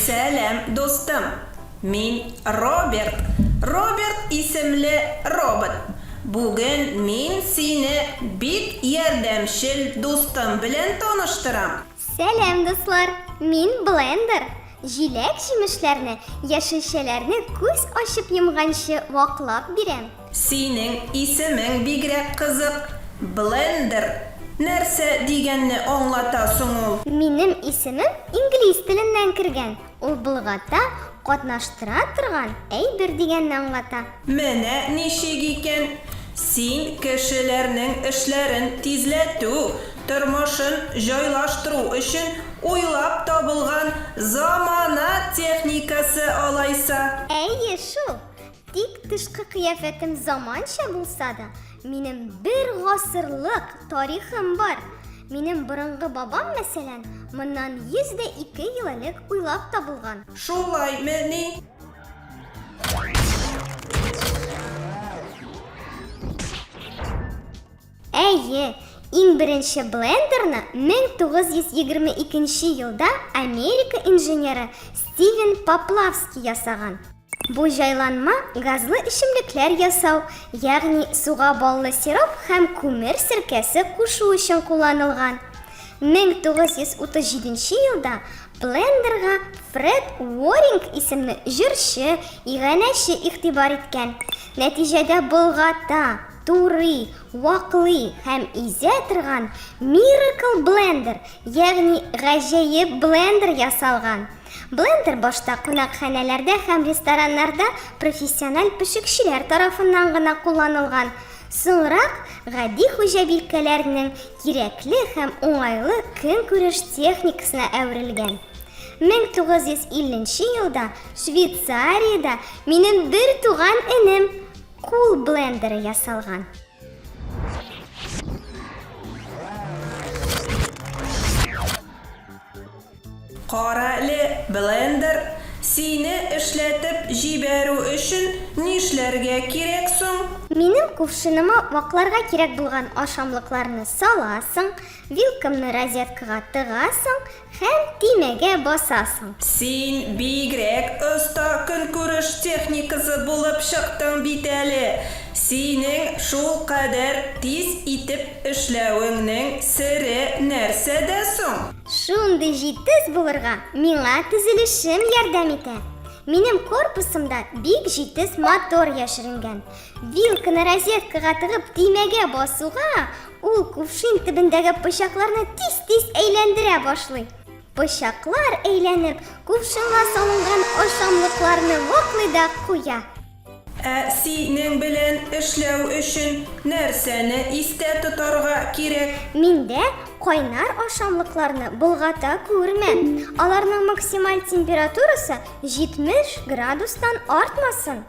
Сәлам, дустым! Мин Роберт. Роберт исемле робот. Бүген мин сине бик ярдәмчел дустым белән таныштырам. Сәлам, дуслар! Мин Блендер. Җиләк җимешләрне, яшелчәләрне күз ачып йомганчы ваклап бирәм. Синең исемең бигрәк кызык, Блендер. Нәрсә дигәнне аңлата соң ул? Минем исемем инглиз теленнән кергән. Ул болгата катнаштыра торган әйбер дигәнне аңлата. Менә ничек икән, син кешеләрнең эшләрен тизләтү, тормышын җайлаштыру өчен уйлап табылган замана техникасы алайса. Әйе шул, Тик тышкы кыяфәтем заманча булса да, минем бер гасырлык тарихым бар. Минем борынгы бабам, мәсәлән, моннан 102 ел элек уйлап табылган. Шулай мени? Әйе, иң беренче блендерны 1922 нче елда Америка инженеры Стивен Поплавский ясаган. Бу җайланма газлы эчемлекләр ясау, ягъни суга баллы сироп һәм күмер серкәсе кушу өчен кулланылган. 1937 нче елда блендерга Фред Уоринг исемле җырчы, иганәче игътибар иткән. Нәтиҗәдә болгата, Турый, ваклый һәм изә торган Miracle Blender, ягъни гаҗәеп блендер ясалган. Блендер башта кунакханәләрдә һәм рестораннарда профессиональ пешекчеләр тарафыннан гына кулланылган, соңрак гади хуҗабикәләрнең кирәкле һәм уңайлы көнкүреш техникасына әверелгән. 1950 елда Швейцариядә минем бертуган энем, Кул блендеры ясалган. Карале, блендер, сине эшләтеп җибәрү өчен нишләргә кирәк соң? Минем кувшыныма вакларга кирәк булган ашамлыкларны саласың, вилкамны розеткага тыгасың, Һәм төймәгә басасың. Син бигрәк оста көнкүреш техникасы булып чыктың бит әле. Синең шулкадәр тиз итеп эшләвеңнең сере нәрсәдә соң? Шундый җитез булырга миңа төзелешем ярдәм итә. Минем корпусымда бик җитез мотор яшеренгән. Вилканы розеткага тыгып төймәгә басуга, ул кувшин төбендәге пычакларны тиз-тиз әйләндерә башлый. Пычаклар әйләнеп, кувшинга салынган ашамлыкларны ваклый да куя. Ә синең белән эшләү өчен нәрсәне истә тотарга кирәк? Миндә кайнар ашамлыкларны болгата күрмә. Аларның максималь температурасы 70 градустан артмасын.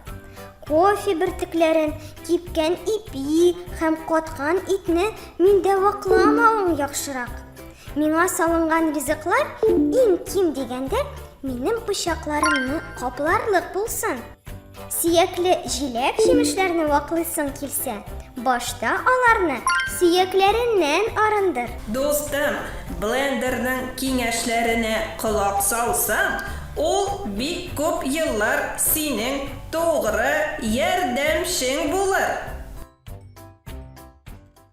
Кофе бертекләрен, кипкән ипи һәм каткан итне миндә вакламавың яхшырак. Миңа салынган ризыклар иң ким дигәндә минем пычакларымны капларлык булсын. Сөякле җиләк җимешләрне ваклыйсың килсә, башта аларны сөякләреннән арындыр. Дустым, блендерның киңәшләренә колак салсаң, Ул бик күп еллар синең тугры ярдәмчең булыр.